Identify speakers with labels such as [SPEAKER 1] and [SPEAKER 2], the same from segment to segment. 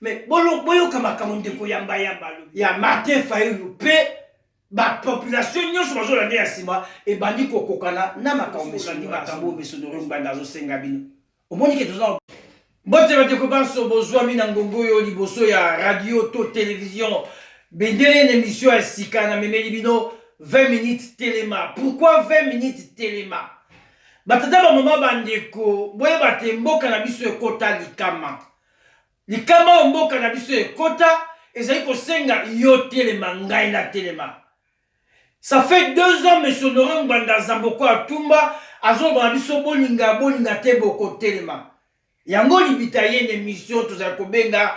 [SPEAKER 1] Mais bolo boyoka makambo ndeko yamba yamba alobi. Ya Martin Fayulu pe ba population nyonso bazolanda ya nsima ebandi kokokana na makambo mesongi makambo oyo mesonoro ngbanda azosenga bino omoni ke toza mbote bandeko banso bozwami na ngongo oyo liboso ya radio to television bendele na emission ya sika na memeli bino 20 minutes telema pourquoi 20 minutes telema batata bamama bandeko boyeba te mboka na biso ekota likama Likama oyo mboka na biso ekota ezali kosenga yo telema ngai na telema. Ça fait deux ans Monsieur Honorant Ngbanda Zamboko Atumba azoloba na biso bolinga bolinga te bokotelema. Yango libita ye na emission tozali kobenga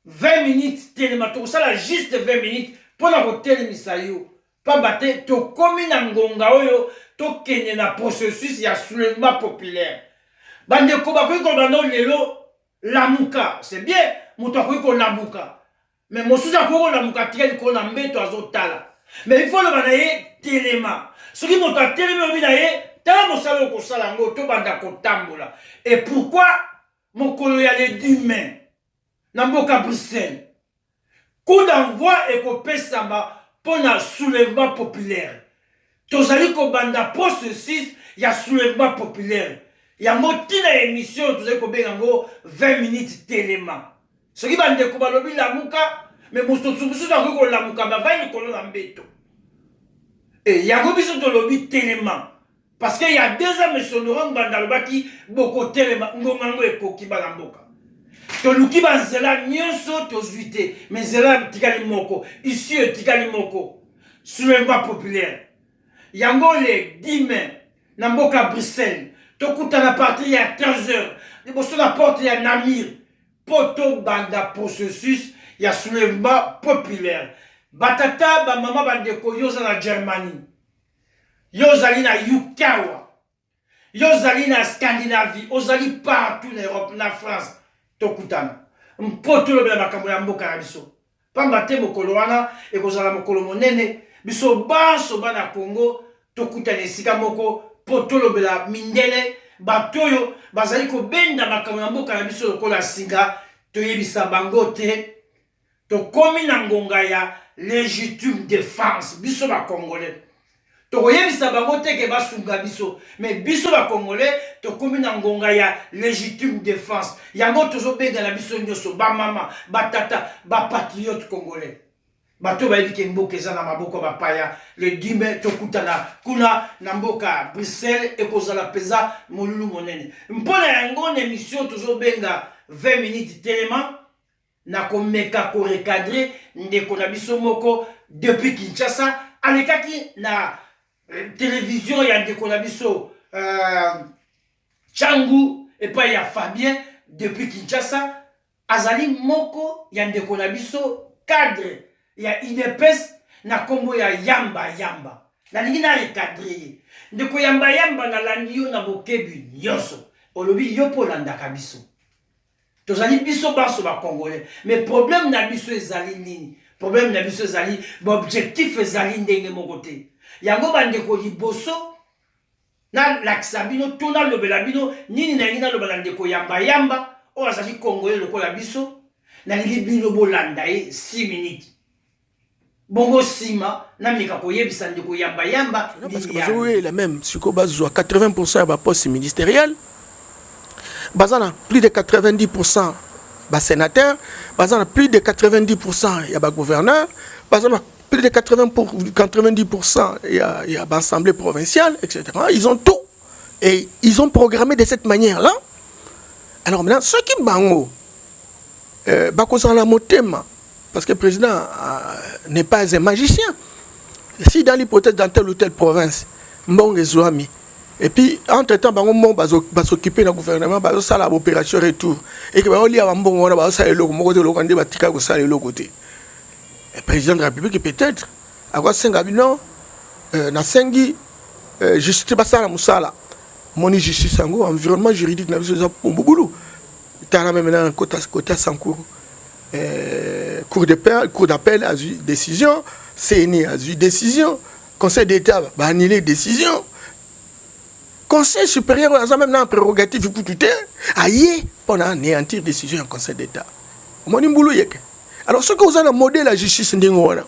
[SPEAKER 1] 20 minutes telema tokosala juste 20 minutes mpo na kotelemisa yo Pamba te tokomi na ngonga oyo tokende na processus ya soulèvement populaire. Bandeko bakoki koloba no lelo lamuka, c'est bien, moto akoki kolamuka. Mais mosusu akoki kolamuka atika likolo na mbeto azotala. Mais il faut oloba na ye telema. Soki moto atelemi olobi na ye tala mosala oyo okosala yango tobanda kotambola. Et pourquoi mokolo ya le 10 mai na mboka Bruxelles? Coup d'envoi ekopesama mpo na soulevement populaire. Tozali kobanda processus ya soulevement populaire. Yango ntina ya emission oyo tozali kobenga yango 20 minutes telema. Soki ba ndeko balobi lamuka, mais mosusu mosusu akoki kolamuka mais avandi likolo na mbeto. Et yango biso tolobi telema. Parce que ya deux ans Monsieur Laurent Ngbanda alobaki bokotelema ngonga yango ekoki bana mboka toluki banzela nyonso tozwi te me nzela etikali moko isi etikali moko soulèvement populaire yango le 10 mai na mboka bruxelles tokutana partir ya 15 heures liboso na porte ya namir mpo tobanda processus ya soulèvement populaire batata bamama bandeko yo oza na germanie yo ozali na uk awa yo ozali na scandinavie ozali partout na europe na france tokutana mpo tolobela makambo ya mboka na biso mpamba te mokolo wana ekozala mokolo monene biso banso bana congo tokutana esika moko mpo tolobela mindele bato oyo bazali kobenda makambo ya mboka na biso lokola singa toyebisa bango te Tokomi na ngonga ya legitime defense biso ba congolais tokoyebisa bango te ke basunga biso me biso ba congolais tokomi na ngonga ya legitime defense yango tozobenga na biso nyonso bamama batata bapatriote congolais bato bayebi ke mboka eza na maboko ya bapaya le dime tokutana kuna na mboka bruxelles ekozala mpenza molulu monene mpo na yango na emission tozobenga 20 minutes telema Na komeka ko recadrer ndeko na biso moko depuis Kinshasa, alekaki na television ya ndeko na biso Tshangu epai ya Fabien depuis Kinshasa, azali moko ya ndeko na biso cadre ya udps na kombo ya Yamba Yamba. Nalingi na recadrer ye. Ndeko Yamba Yamba, nalandi yo na bokebi nionso. Olobi yo mpe olandaka biso. Tozali biso banso ba congolais mais problème na biso ezali nini? Problème na biso ezali ba objectif ezali ndenge moko te. Yango bandeko liboso nalakisa bino to nalobela bino nini nalingi naloba na ndeko yamba yamba oyo azali congolais lokola biso nalingi bino bolanda ye 6 minutes bongo sima na meka koyebisa ndeko yamba yamba bazoyela
[SPEAKER 2] meme sikoyo bazwa 80 pourcent ya baposte ministériel baza na plus de 90 pourcent basénateur baza na plus de 90 pourcent ya bagouverneur baza na plus de 80 pour, 90 pourcent ya, ya baassemblée provinciale etc ils ont tout et ils ont programmé de cette manière là alors maintenant ceux qui bango euh, bakozala na motema parce que président euh, n'est pas un magicien si dans l'hypothèse dans telle ou telle province mbongo ezwami et puis entre temps bango moko bazokipe na gouvernement bazosala baopération retour et que baolia bambongo wana bazosala eloko moko te eloko nde batika kosala eloko te président de la république peut-être akosenga bino euh, nasengi eh, justice basala mosala moni justice yango environnement juridique na biso eza mobulu tala meme na kota kota sancour eh, cour de paix cour d'appel azwi décision cni azwi décision conseil d'état baannule décision conseil supérieur oyo aza meme na prérogative kutu te aye mpo na anéantir décision ya conseil d'état omoni mbulu yeke alors soki oza na modèle ya justice ndenge wana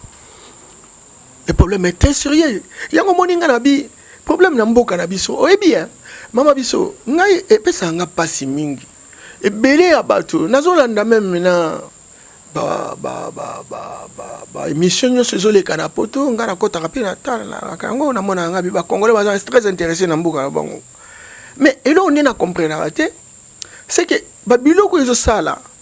[SPEAKER 2] le problème est très sérieux yango moni nga na bi problème na mboka na biso oyebi hein mama biso ngai epesaka nga mpasi mingi ebele ya bato nazolanda meme na baémission nyonso ezoleka na poto ngai nakotaka mpe natalaka yango namonaka ngai bacongolais baza très intéressé na mboka na bango mais eloko nde na comprenaka te seke babiloko ezosala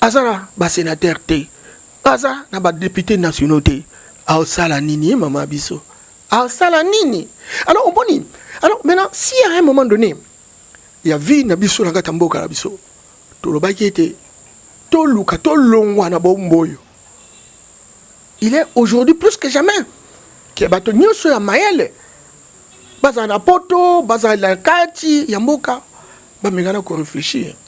[SPEAKER 2] aza na ba senateur te aza na ba depute nationaux te aosala nini ye mama biso aosala nini alors omoni alors maintenant si à un moment donné ya vie na biso na kati ya mboka na biso tolobaki ete toluka tolongwa na bombo oyo il est aujourd'hui plus que jamais ke bato nyonso ya mayele bazala na poto bazala na kati ya mboka bamekana koreflechir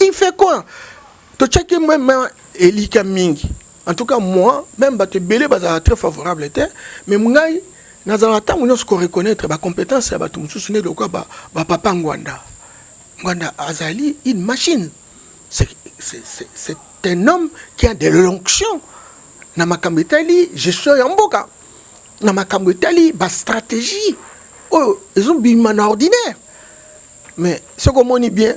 [SPEAKER 2] il fait quoi totyaki meme elika mingi en tout cas moi même bato ebele bazalaka très favorable te mais ngai nazalaka ntango nyonso koreconnaitre bacompétence ya bato mosusu nde lokola bapapa ba ngwanda ngwanda azali une machine c'est un homme qui a de l'onction na makambo etali gestion ya mboka na makambo etali bastratégie oyo ezobima na ordinaire mais soki omoni bien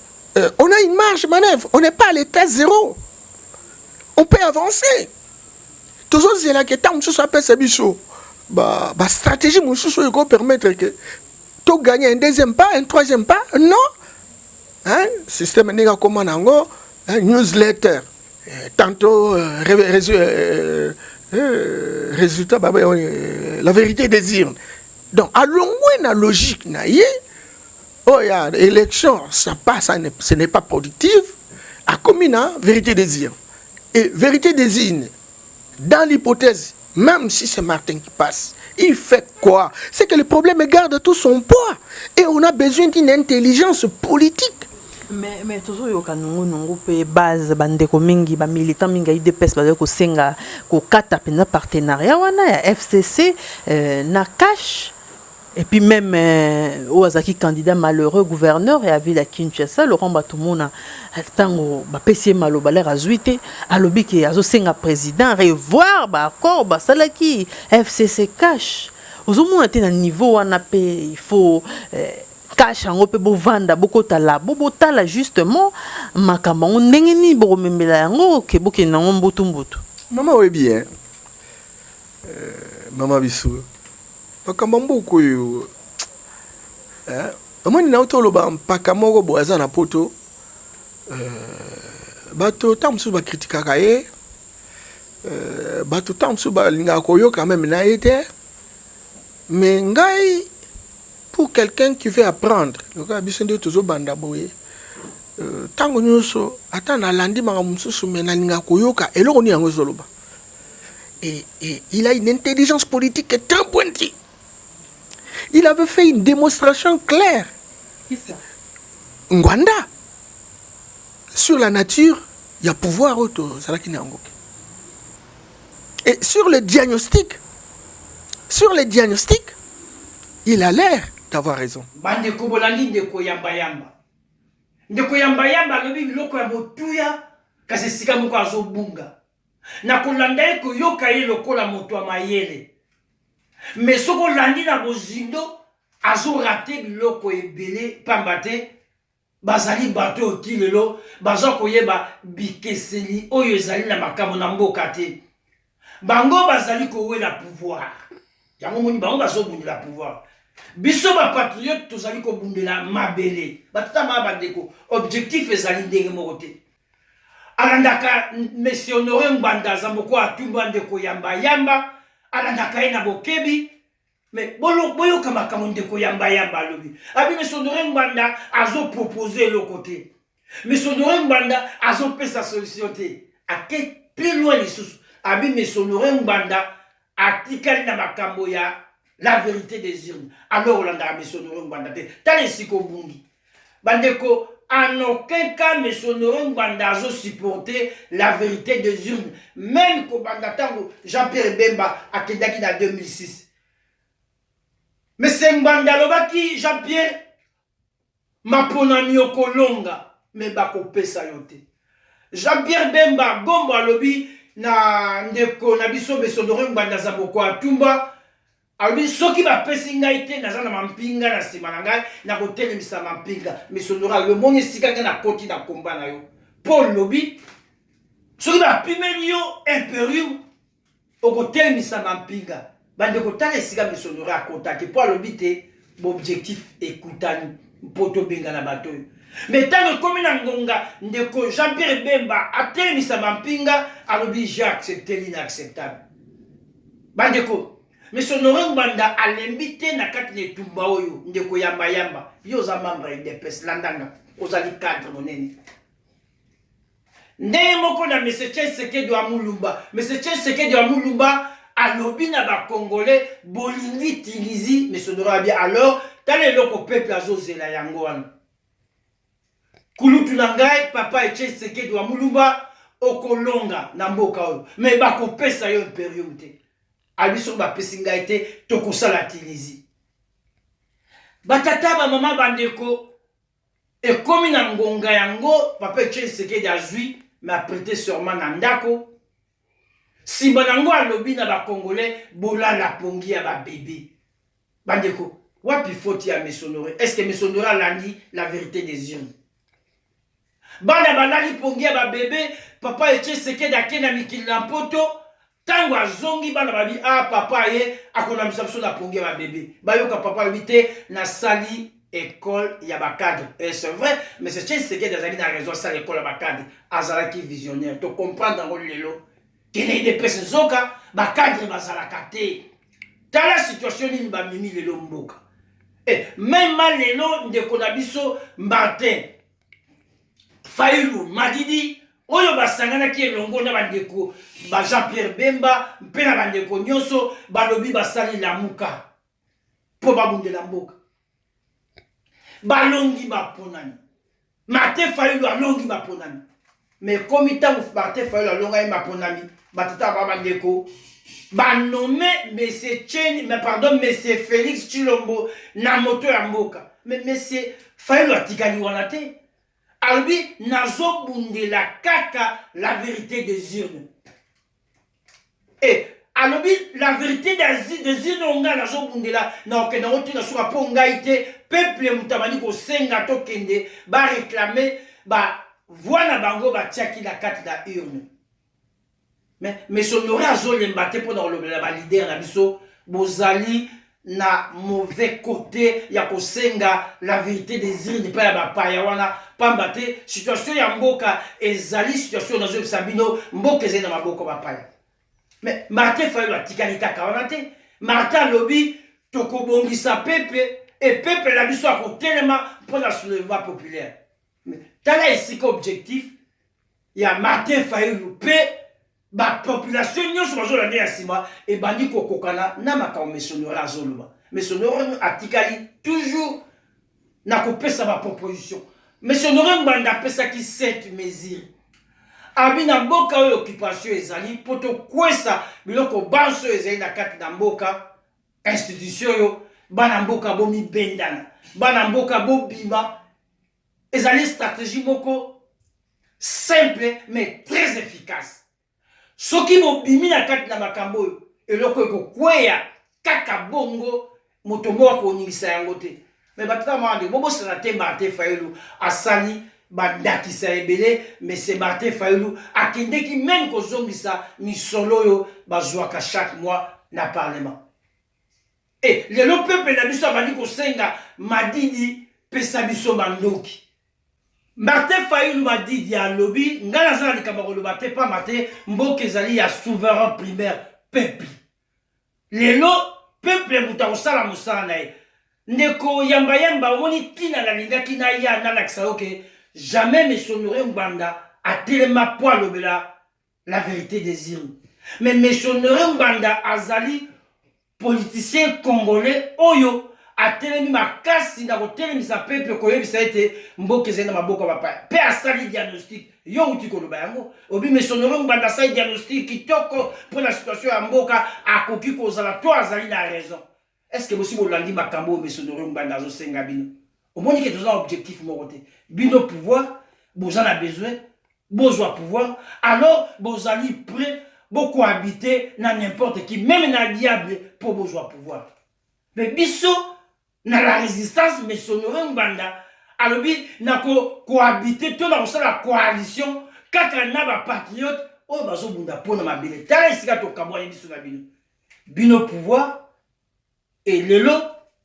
[SPEAKER 2] euh, on a une marge manœuvre on n'est pas à l'état zéro on peut avancer tozozela ke ntango mosusu apesa biso bastratégie ba mosusu oyo ekopermettre ke togagner un deuxième pas un troisième pas non hein? système ndenge akoma na yango newsletter euh, tantôt euh, euh, euh, résultat bah, euh, la vérité des urnes donc alongwe na logique na ye oyo ya élection ça pas ça ne, ce n'est pas productive akomi na vérité des urnes et vérité des urnes dans l'hypothèse même si c'est Martin qui passe il fait quoi c'est que le problème garde tout son poids et on a besoin d'une intelligence politique mais, mais
[SPEAKER 3] tozoyoka nongo nongo mpe base bandeko mingi bamilitant mingi ya udps bazali kosenga kokata mpenza partenariat wana ya fcc euh, na cash Et puis meme euh, oyo azalaki candidat malheureux gouverneur ya ville ya Kinshasa Laurent Batumona ntango bapesi ye maloba lere azwi te alobi ke azosenga président revoir baaccord basalaki FCC cash ozomona te na niveau wana mpe il faut euh, cash yango mpe bovanda bokota labo botala justement makambo yango ndenge nini bokomemela yango ke bokende yango mbutu mbutu mama oyebi ye
[SPEAKER 2] Eh, mama biso makambo ya mboka oyo eh, omoni na uta oloba mpaka moko boye aza na poto eh, bato ntango mosusu bakritikaka ye eh, bato ntango mosusu balingaka koyoka meme na ye te mais ngai pour quelqu'un qui veut apprendre lokola biso nde tozobanda boye ntango euh, nyonso ata nalandi makambo mosusu me nalingaka koyoka eloko nini yango ezoloba Et, et, il a une intelligence politique très pointue. Il avait fait une démonstration claire. Qui
[SPEAKER 3] ça Ngwanda.
[SPEAKER 2] Sur la nature, il y a pouvoir autour. Et sur le diagnostic, sur le diagnostic, il a l'air d'avoir raison. Bande kobolandi
[SPEAKER 1] ndeko yamba yamba. Ndeko yamba yamba alobi biloko ya botuya kasi esika moko azobunga. na kolanda ye, koyoka ye lokola moto ya mayele. Mais soki olandi na bozindo, azo rate biloko ebele pamba te bazali bato oyo ti lelo baza koyeba bikeseni oyo ezali na makambo na mboka te. Bango bazali kowela pouvoir, yango moni bango bazobundela pouvoir biso bapatriote tozali kobundela mabele batata maa bandeko objectif ezali ndenge moko te alandaka monsieur honore ngbanda zamboko atumba ndeko yamba yamba alandaka ye na bokebi me boyoka makambo ndeko yamba yamba alobi abi monsieur honore ngbanda azopropose eloko te monsieur honore ngbanda azopesa solution te ake plus loin lisusu abi monsieur honore ngbanda atikali na makambo ya la vérité des urnes alors olandaka monsieur honore ngbanda te tala esika obungi Bandeko, en aucun cas M. Honore Ngbanda azo supporter la verite des urnes. Meme kobanda tango Jean-Pierre Bemba akendaki na 2006. Monsieur Ngbanda alobaki Jean-Pierre maponami okolonga me bakopesa yo te. Jean-Pierre Bemba Gombo alobi na ndeko na biso M. Honore Ngbanda Zaboko atumba Alobi, soki bapesi ngai te, naza na mampinga na nsima na ngai, nakotelemisa mampinga. Misondora, yo omoni esika ngai nakoti na komba na yo? Paul lobi, soki bapimeli yo imperium, okotelemisa mampinga. Bandeko, tala esika misondora akotaki, mpo alobi te baobjectif ekutani mpo tobengana bato oyo me ntango ekomi na ngonga ndeko jean pierre bemba atelemisa mampinga alobi j'ai accepte l'inacceptable bandeko mais honore ngbanda alembi te na kati na etumba oyo ndeko yambayamba yo oza membre ya udps landanga ozali cadre monene ndenge moko na mese chesekedi wa mulumba mese chesekedi wa mulumba alobi na bacongolais bolingi tilizi mese honore abi alors tala eloko peuple azozela yango wana kulutu na ngai papa etie tshisekedi wa mulumba okolonga na mboka oyo me bakopesa yo imperium te abi soki bapesi ngai te tokosala tilizi batata bamama bandeko ekomi na ngonga yango papa etie tshisekedi azwi me aprete surement na ndako Sima na ngo alobi na ba congolais bolala pongi ya ba bebe. Ba ndeko wapi faute ya Mesonore? Est ce que Mesonore alandi la verite des urnes? Bana balali pongi ya ba bebe, papa Etienne Tshisekedi ake na mikili na mpoto, tango azongi bana babi ah papa aye akolambisa biso na pongi ya ba bebe. Bayoka papa alobi te nasali ecole ya ba cadre et c'est vrai monsieur Chen Sekedi azali na raison asala ecole ya ba cadre azalaki visionnaire to comprendre yango lelo kende idepese nzoka ba cadre bazalaka te tala situation nini bamimi lelo mboka eh, mema lelo ndeko na biso martin failu madidi oyo basanganaki elongo na bandeko ba jean pierre bemba mpe na bandeko nyonso balobi basali lamuka mpo babundela mboka balongi baponami martin fayulu alongi baponami me ekomi ntango martin fayulu alongaki baponami batata ba bandeko banome mese cheni me pardon mese félix chilombo na moto ya mboka me mese fayulu atikali wana te alobi nazobundela kaka la vérité des urnes Eh, alobi la verite desire no ngai nazobundela na okenda yango te na suka mpo ngai te peuple moto abandi kosenga tokende bareklame bavoi na bango batiaki na kati na urne mais mesonore azolemba te mpo na kolobela balidere na biso bozali na mauvais cote ya kosenga la verite des urnes epai ya bapaya wana pamba te situation ya mboka ezali situation nazoyebisa bino mboka ezali na maboko bapaya mais martin fayolo atikali kaka wana te martin alobi tokobongisa pepe e pepe na biso akotelema mpo na soulèvement populaire tala esika objectif ya martin fayulu mpe bapopulation nyonso bazolanda ya nsima ebandi kokokana na makambo mesonora azoloba mesonora atikali toujours na kopesa baproposition mesonora ngbanda apesaki 7 mesure abi na mboka oyo occupation ezali mpo tokwesa biloko banso ezali na kati na mboka institution oyo bana mboka bomibendana bana mboka bobima ezali stratégie moko simple mais très efficace soki bobimi na kati na makambo oyo eloko ekokweya kaka bongo moto moko akoningisa yango te me bato kaka mwana nde bobosana te martin fayulu asali bandakisa ebele mese martin fayulu akendeki meme kozongisa misolo oyo bazwaka chaque mois na parlement e lelo peple na biso abandi kosenga madidi pesa biso bandoki martin fayulu madidi alobi ngai naza na likambo ya koloba te mpamba te mboka ezali ya souverain primaire peple lelo peple moto akosala mosala na ye ndeko yambayamba omoni ntina nalingaki naya nalakisa yo ke jamais mesomire ngbanda atelema mpo alobela la verite des urnes mais monsieur honore ngbanda azali politicien congolais oyo atelemi makasi na kotelemisa pepe koyebisa ete mboka ezali na maboko ya bapaya mpe asali diagnostic yo outi koloba yango obi mesonoro ngbanda asali diagnostic kitoko mpo na situation ya mboka akoki kozala to azali na raison Est ce que bosi bolandi makambo oyo Monsieur Honoré Ngbanda azo senga bino? Omoni ke toza objectif moko te. Bino pouvoir boza na besoin bozwa pouvoir alors bozali prêt bo cohabiter na n'importe qui même na diable po bozwa pouvoir. Mais biso na la résistance Monsieur Honoré Ngbanda alobi na ko cohabiter to na kosala coalition kaka na ba patriotes oyo bazobunda mpo na mabele tala esika tokabwani biso na bino bino pouvoir e lelo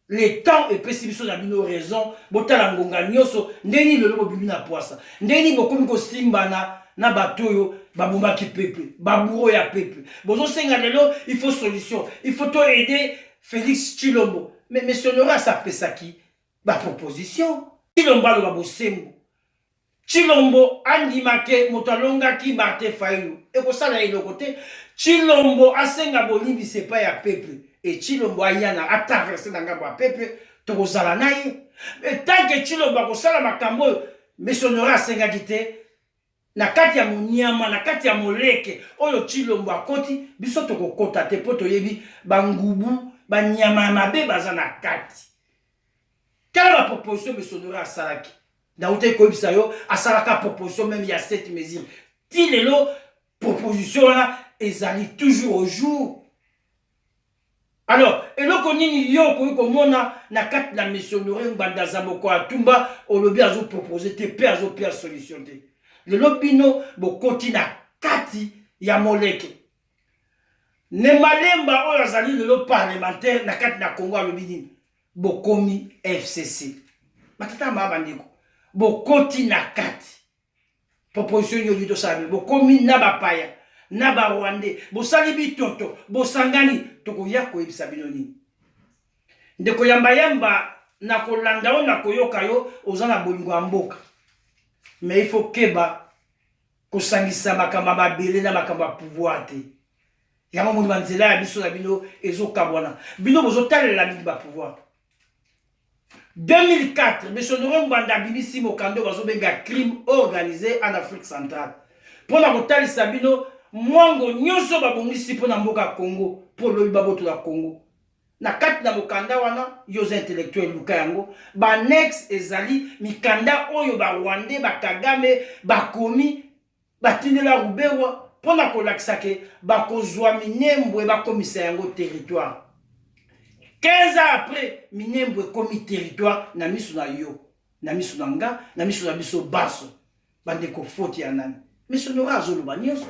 [SPEAKER 1] le temps epesi biso na bino raison botala ngonga nyonso ndenge nini lelo bobimi na pwasa ndenge nini bokomi kosimbana na bato oyo babomaki pepe baburo ya pepe bozosenga lelo il faut solution il faut to aide félix chilombo mais monsieur loras apesaki baproposition chilombo aloba bosembo Tshilombo andima ke moto alongaki Martin Fayulu ekosala ye eloko te. Tshilombo asenga bolimbisi epai ya peuple et Tshilombo aya na a traverser na ngambo ya peuple tokozala na ye mais tant que Tshilombo akosala makambo oyo Miss Honore asengaki te na kati ya monyama na kati ya moleke oyo Tshilombo akoti biso tokokota te mpo toyebi bangubu banyama ya mabe baza na kati. Tala ba proposition Miss Honore asalaki. ndauta ekoyebisa yo asalaka proposition meme ya cette mesure ti lelo proposition wana ezali toujours au jour alors eloko nini yo okoki komona na kati na missionnaire ngbanda za moko atumba olobi azopropose te mpe azopia solution te lelo bino bokoti na kati ya moleke ne malemba oyo azali lelo parlementaire na kati na congo alobi nini Bokomi FCC. Matata ma bandeko. Bokoti na kati. Proposition yo to sabe. Bokomi na bapaya, na ba Rwandais. Bosali bitoto, bosangani tokoya koyebisa bino nini. Ndeko yamba yamba na kolanda yo na koyoka yo oza na bolingo ya mboka. Mais il faut keba Kosangisa makambo ya mabele na makambo ya pouvoir te. Yango moni ba nzela ya biso na bino ezokabwana. Bino bozotalela mingi ba pouvoir. 2004 Monsieur Laurent Gbanda abimisi mokanda oyo bazobenga crime organisé en Afrique centrale mpo na kotalisa bino mwango nyonso babongisi mpo na mboka Congo mpo lobi babotola Congo Na kati na mokanda wana, yo oza intellectuel luka yango, ba annexes ezali mikanda oyo ba rwandais ba kagame bakomi batindela Ruberwa mpo na kolakisa ke bakozwa Minembwe bakomisa yango territoire. 15 ans après, Minembwe ekomi territoire na miso na yo, na miso na nga, na miso na biso banso. Bandeko faute ya nani? Mais Sonora azoloba nyonso.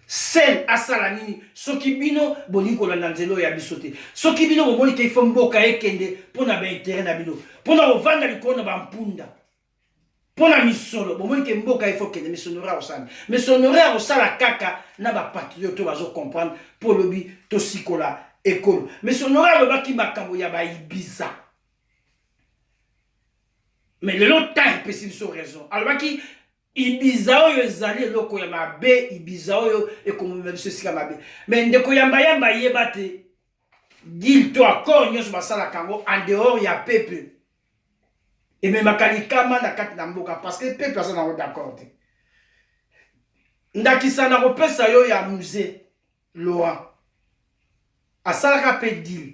[SPEAKER 1] Sen asala nini soki bino bolingi kolanda nzela oyo ya biso te soki bino bomoni te ifo mboka ekende mpo na baintere na bino mpo na kovanda likolo na bampunda mpo na misolo bomoni te mboka ifo kende misonore akosala misonore akosala kaka na bapatriote oyo bazocomprendre mpo olobi tosikola ekolo misonore alobaki makambo ya baibiza mais lelo temps epesi biso raison alobaki ibiza oyo ezali eloko ya mabe ibiza oyo ekomema biso esika mabe mais ndeko yambayamba ayeba te dil to accord nyonso basalaka yango en dehors ya peuple ememaka likama na kati na mboka parce que peuple aza nango d'accord te ndakisa nakopesa yo ya musée laurent asalaka mpe dil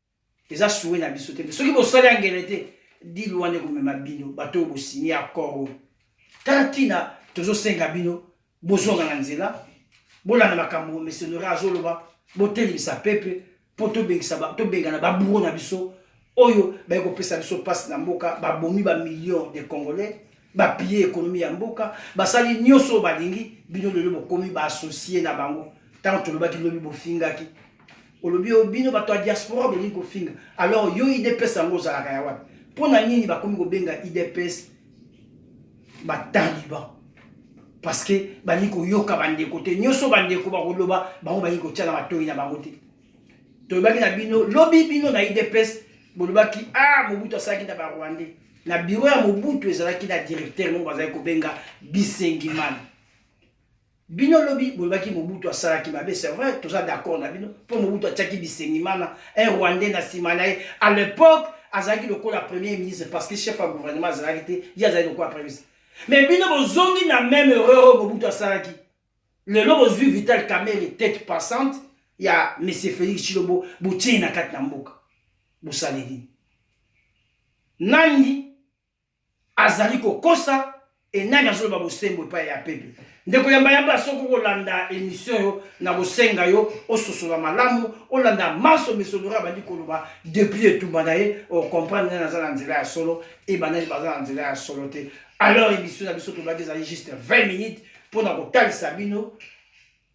[SPEAKER 1] eza souhait na biso te mais soki bosali angele te dil wana ekomema bino bato oyo bosigne accord oyo tala ntina tozosenga bino bozonga na nzela bolanda makambo missionnaire azoloba botelemisa pepe mpo tobengana baburo na biso oyo baye kopesa biso mpasi na mboka babomi bamillion de congolais bapille ekonomi ya mboka basali nyonso oyo balingi bino lelo bokomi baassocie na bango ntango tolobaki lobi bofingaki olobi yo bino bato ya diaspora bolingi kofinga alors yo idps yango ozalaka ya wapi mpo na nini bakomi kobenga idps bataliban parce que balingi koyoka bandeko te nyonso bandeko bakoloba bango balingi kotya na matoi na bango te tolobaki na bino lobi bino na idps bolobaki a ah, mobutu asalaki na barwandais na biro ya mobutu ezalaki na directeur moko bazalaki kobenga bisengimana Bino lobi bolobaki Mobutu asalaki mabe, c'est vrai, toza d'accord na bino mpo Mobutu atiaki Bisengimana un rwandais na nsima na ye à l'époque azalaki lokola premier ministre parce que chef ya gouvernement azalaki te, ye azalaki lokola premier ministre. Mais bino bozongi na meme erreur oyo Mobutu asalaki. Lelo bozwi Vital Kamerhe tete passante ya Monsieur Felix Tshilombo botie na kati na mboka. Bosaleli. Nani Azali kokosa et nani azoloba bosembo epai ya pepe? Ndeko yamba yamba, soki okolanda emission yo, nakosenga yo ososola malamu, olanda manso Monsieur Laurent abandi koloba depuis etumba na ye, ocomprendre nani aza na nzela ya solo et banani baza na nzela ya solo te. Alors emission na biso tolobaki ezali juste 20 minutes mpo na kotalisa bino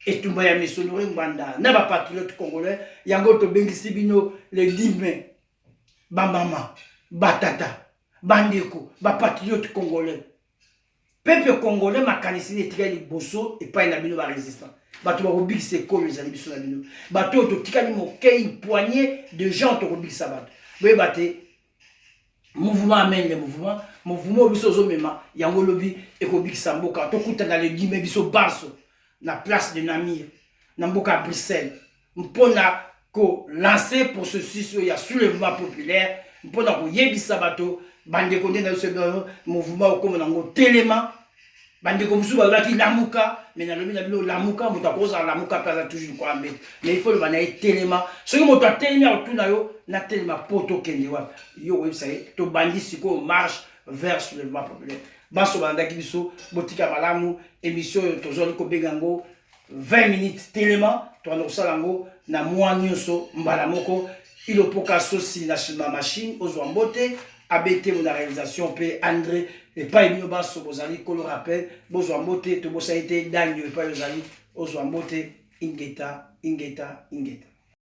[SPEAKER 1] etumba ya Monsieur Laurent Ngbanda na ba patriotes congolais, yango tobengisi bino le 10 mai. ba mama ba tata bandeko ba patriote congolais peuple congolais makanisi nini etikali liboso epai na bino ba resistant bato bakobikisa ekolo ezali biso na bino bato oyo totikali mokei poignet de gens tokobikisa bato boyeba te mouvement amende mouvement mouvement oyo biso ozomema yango lobi ekobikisa mboka tokutana legime biso banso na place de namir na mboka ya bruxelles mpo na kolanse processus oyo ya soulèvement populaire mpo na koyebisa bato bandeko nde na biso bino mouvement okoma nango telema bandeko mosusu balobaki lamuka me nalobi na bino lamuka moto akozala lamuka mpe aza toujours kwa mbeto me ifo loba na ye telema soki moto atelemi akotuna yo natelema mpo tokende wapi yo oyebisa ye tobandi sikoyo marche vers soulèvement populaire banso balandaki biso botika malamu émission oyo tozwali kobenga yango 20 minutes telema tokanda kosala yango na mwa nyonso mbala moko ilopoka sosi na shima machine ozwa mbote abetemo na réalisation mpe andre epai bino banso bozali kolo rappel bozwa mbote tobosani te dangio epai ozali ozwa mbote ingeta ingeta
[SPEAKER 4] ingeta